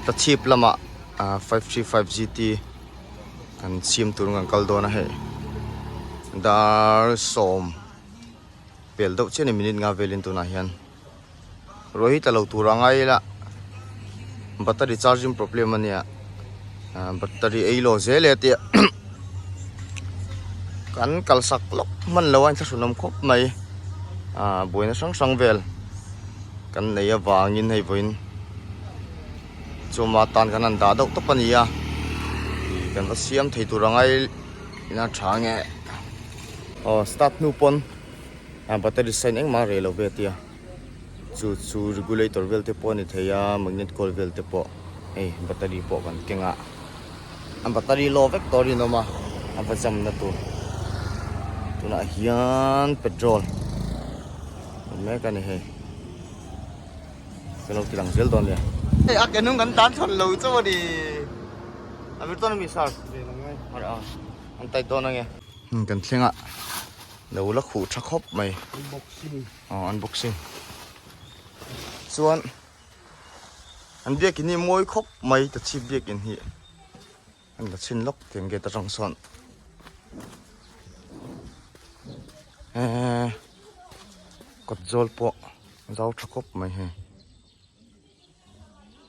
ta chhip lamah ah five three five gt kan siam tur an kal dawn a hei dar sawm pel deuh chianin minute nga velin tunah hian ruah hi tla lo tur angai ila battery charging problem ania. battery ei lo zel e tih kan kalsak lawk hman lo a thlahrun awm khawp mai ah buaina hrang hrang vel kan nei avangin hei vawiin chuma tan kan han dah deuh tawp a ni a ih kan va siam thei tur ang a ei ina tha nge aw start hnu pawn battery sen engmah a rei lo ve tia. chu chu regulator vel te pawh a ni thei a magnet coil vel te pawh hei battery pawh kan keng a a battery law vek tawh a rinawm a a va jump na tur tunah hian petrol awm mek a ni hei ka lo ti lang zel dawn nia hei a kenung kan tan chhawn lo chauh a ni Hamilton a mi sir ve lo ngai har a an tight dawn ange kan thleng a lo la khuh tha khawp mai unboxing Aw unboxing chuan an biak in hi mawi khawp mai ta chhip biak in hi an la chhin lawk tiang gate atang chuan e kawt zawl pawh zau tha khawp mai hei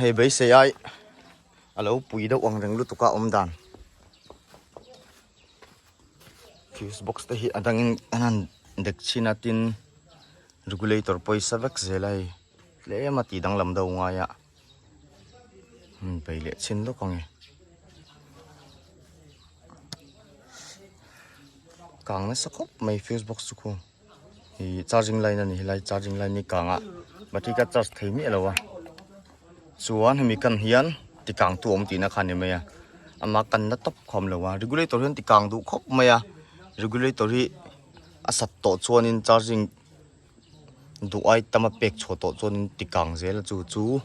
Hei beisei ai a lo pui deuh ang reng lutuk a awm dan. Fuse box te hi a dangin a han dek chin a tin regulator pawh sa vek zel a hei tlem a tih danglam deuh ngai a hun pei leh chin lawk a ni. Kang nasa khawp mai fuse box chu khaw. Hi charging line a ni helai charging line hi kangah battery ka charge thei miah lo a chuan hemi kan hian tikang tu awm tihna kha a ni mai a ama kanna tawp khawm lo a regulator hian tikang duh khawp mai a regulator hi a sat tawh chuanin charging duh ai tama pek chhuah tawh chuanin tikang zel a chu chu--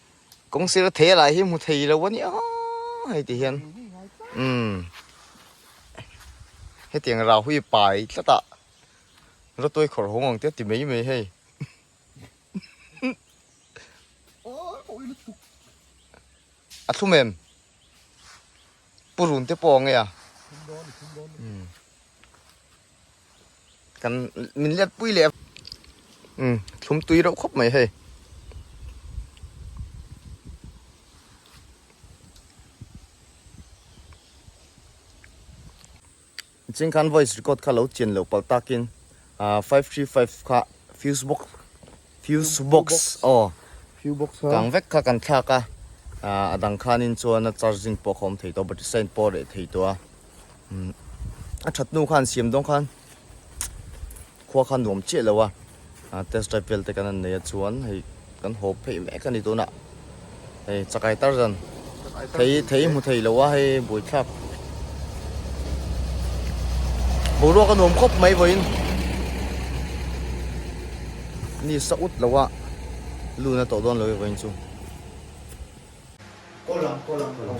Kawng sira thei alah hi hmu thei lo ania hei ti hian um hetiang rahui pai tlata rotoi khawr hawng ang tia ti mai mai hei a thum em Purun te pawh a nge a. Hmm. Kan min let pui le. Hmm, thlum tui reuh khawp mai hei. Ching khan voice record kha lo chian lo palh tak in five three five kha fuse box fuse box aw fuse box kang vek kha kan thlak a a dang khan in chuan a charging pawh kha awm thei tawh a battery sign pawh a reh thei tawh a a that nu khan siam dawn khan Khua kha nuam chiah lo a, test drive vel te kan han nei a chuan hei kan hawp pheih mek a ni tunah hei chakai tar dan thei thei hmu thei lo a hei buaithlak boruak a nuam khawp mai vawiin ni sa ut lo a luna tawh dawn lo e vawiin chu Kolang, kolang, kolang.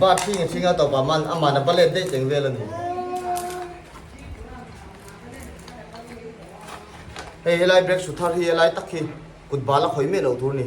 Ba thing a thing a tawpah man a man a va let daih teng vel a ni. Hei helai break suthar hi a lai tak hi kut bal a khawih meh loh tur a ni.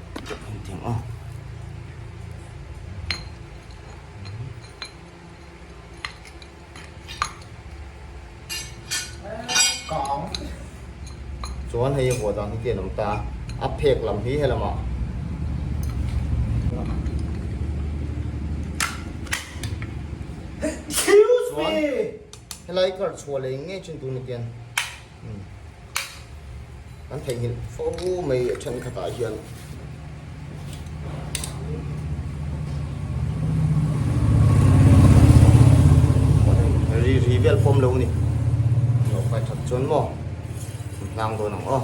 chuan hei a vuah dan hi te an awm ta a phek lam hi helam ah chuan helai kar chhuah leh ngei chin tur ni kian. An theihnghilh fo mai a then khatah hian ri ri vel pawm lo ni lo fai that chuan maw hlang dawn ang aw